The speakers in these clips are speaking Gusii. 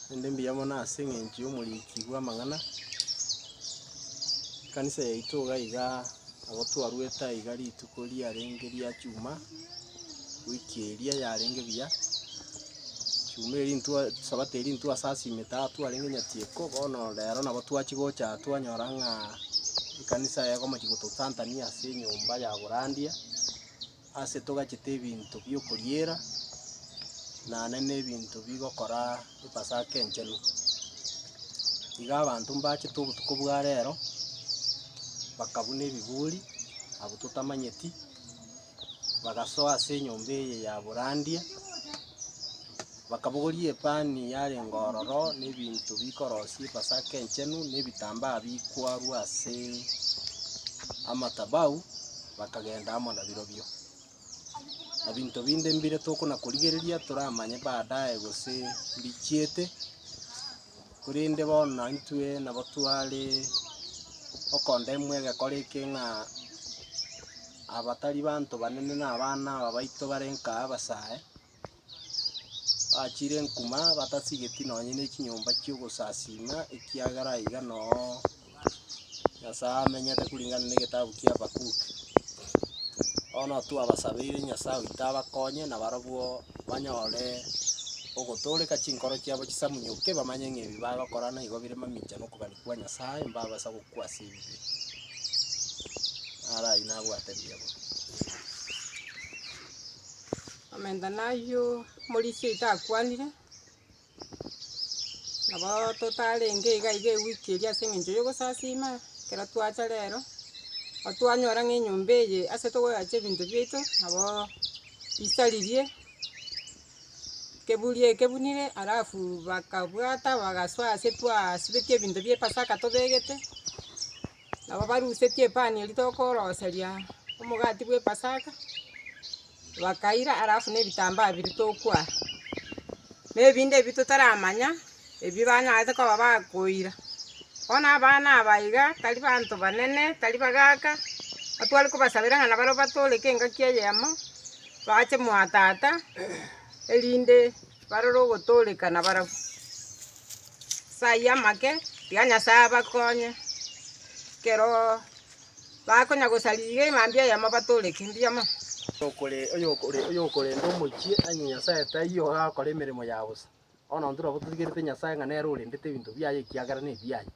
Naende mbuya mono ase eng'encho y'omoriki bw'amang'ana, ekanisa yaito iga iga nabo twarwete aiga iga rituko riarenge ria chuma, wiki eria yarenge buya, chuma eria intwe sabato eria intwe ase asimete aa twarenge nyatieko, bono rero nabo twachia gocha aa twanyora ng'a ekanisa eye ekomochia gototantania ase enyomba ya borandia. Ase togachete ebinto bi'okoriera, nane nebinto bigokora Epasaka Enchenu. Iga abanto mbachete obotuko bwa rero, bakabuna ebiburi abwo totamanyeti, bagasoa ase enyomba eye ya borandia. Bakabogoria epani yarenge ororo, na ebinto bikorosia Epasaka Enchenu, na ebitambaa bikwarwa ase amatabau, bakagenda amo nabirobio. Na binto binde mbire tokona-korigereria toramanye baadaye gose mbichiete, korende bono naintwe nabo tware okondemwa egekora eke ng'a aba tari banto banene na abana aba baito bare nka abasae. Bachire enkuma, batasigeti nonye nechinyomba chi'ogosasiima, ekiagera aiga noo Nyasae amenyete kuringana negetabu kia Habakuki. Bono twabasabeire Nyasae oito abakonye, na barabwo banyore ogotooreka chinkoro chiabo chisamunyoke, bamanye ng'a ebi bagokora nigo bire mamicha nokobani kwa Nyasae, mbabasa gokwa ase ebibe. Naro ayio nabwate riabo. Omenta nayio Morisia oito akwanire, nabo totarenge iga iga ewiki eria ase eng'encho y'ogosasiima, ekero twacha rero, nabo twanyora ng'a enyomba eye ase togoyachia ebinto biaito, nabo isaririe, keburi ekebunire, alafu bakabwata bagasoa ase twasibetie ebinto bia epasaka tobegete. Nabo barusetie epani eria tokoroseria omogati bw'Epasaka, bakaira alafu ne ebitambaa biria tokwara, na ebinde ebio totaramanya ebio banyarete koba bakoira. Bono abana aba iga tari abanto banene, tari bagaka, natware kobasabera ng'a nabare batooreke engaki eyemo, bache mwatata, erinde. Barore ogotooreka nabarabwo. Ase ayio amake, tiga Nyasae abakonye, ekero bakonya gosaria iga emambia eyemo batooreke mbuya mono. Oyokorenda omochie ang'e Nyasae taiyo ogakora emeremo ya bosa. Bono intwe nabo totigerete Nyasae ng'a nere orendete ebinto biaye ekiagera nebiaye.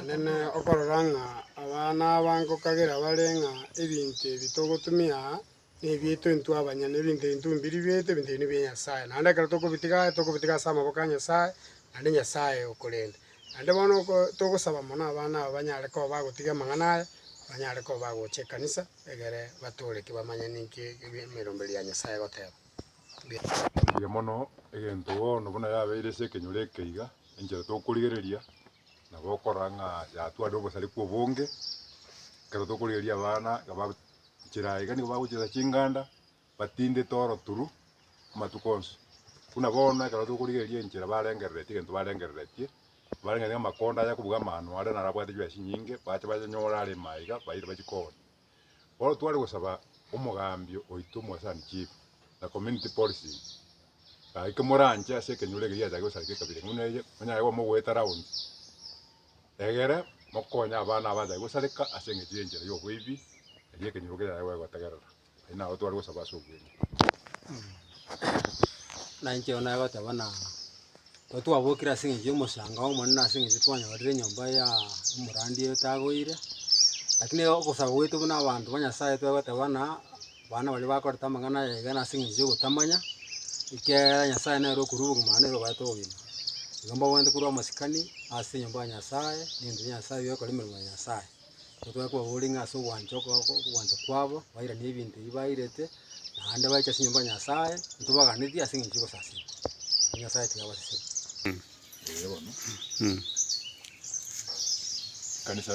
Naende okorora ng'a abana aba nkokagera bare ng'a ebinto ebi togotumia aa, nebiaito intwe abanyene, ebinto ebi ntibumbi ribiaito, ebinto ebi nibia Nyasae. Naende ekero tokobitiga aya, tokobitiga ase amaboko a Nyasae, naende Nyasae okorenda. Naende bono oko togosaba mono abana aba banyare koba bagotiga amang'ana aya, banyare koba bagocha ekanisa, egere batooreke bamanye ninki ebi emeromberio ya Nyasae egoteba. Mbuya mono egento bono buna yabeire ase ekenyoro eke iga, enchera tokorigereria nabo okorora ng'a yatwarire obosareko obonge, ekero tokorigereria abana iga bagochera aye iga nigo bagochesa chinganda, batindete oro turu amatuko onsi. Buna bono ekero tokorigereria enchera barengereretie egento barengereretie, barengereretie ng'a amakonda aya akobuga amano aria naro abwate chibesa chinyinge, bache banyanyore aremo aiga, baire bachia koona. Bono tware gosaba omogambi oito omwasani, chief, na community policing gaki kimoranche ase ekenyoro ekeria giachake gosareka ekabira eng'u na eye monyare koba mogoeta round egere mokonye abana abachake gosareka ase eng'echo y'enchera y'oboibi erio ekenyoro kechake goegotegerera. Ayio nabo tware gosaba ase obweeng'e. Buna inche bono nagoteba ng'a ekero twabokire ase eng'encho y'omosanga omonene ase eng'encho twanyorire enyomba ya omorwandi otagoire, lakini ogosaba gwaito buna abanto ba Nyasaye twagoteba ng'a abana baria bakorete amang'ana aya iga nase eng'encho y'ogotamanya, ekiagera Nyasaye nere okorwa obogima nere obaete obogima. Igo mbabwate korwa amasikani ase enyomba ya Nyasaye, na emenwa ya Nyasaye, na ebikorwa emeremo ya Nyasaye. Totoe kobabora ng'a ase ogwancha ogwancha kwabo bairane ebinto ebi bairete, naende baiche ase enyomba ya Nyasae, intwe baganetie ase eng'encho y'ogosasima, erio Nyasae tigabaseseri. Ee bono. Ekanisa.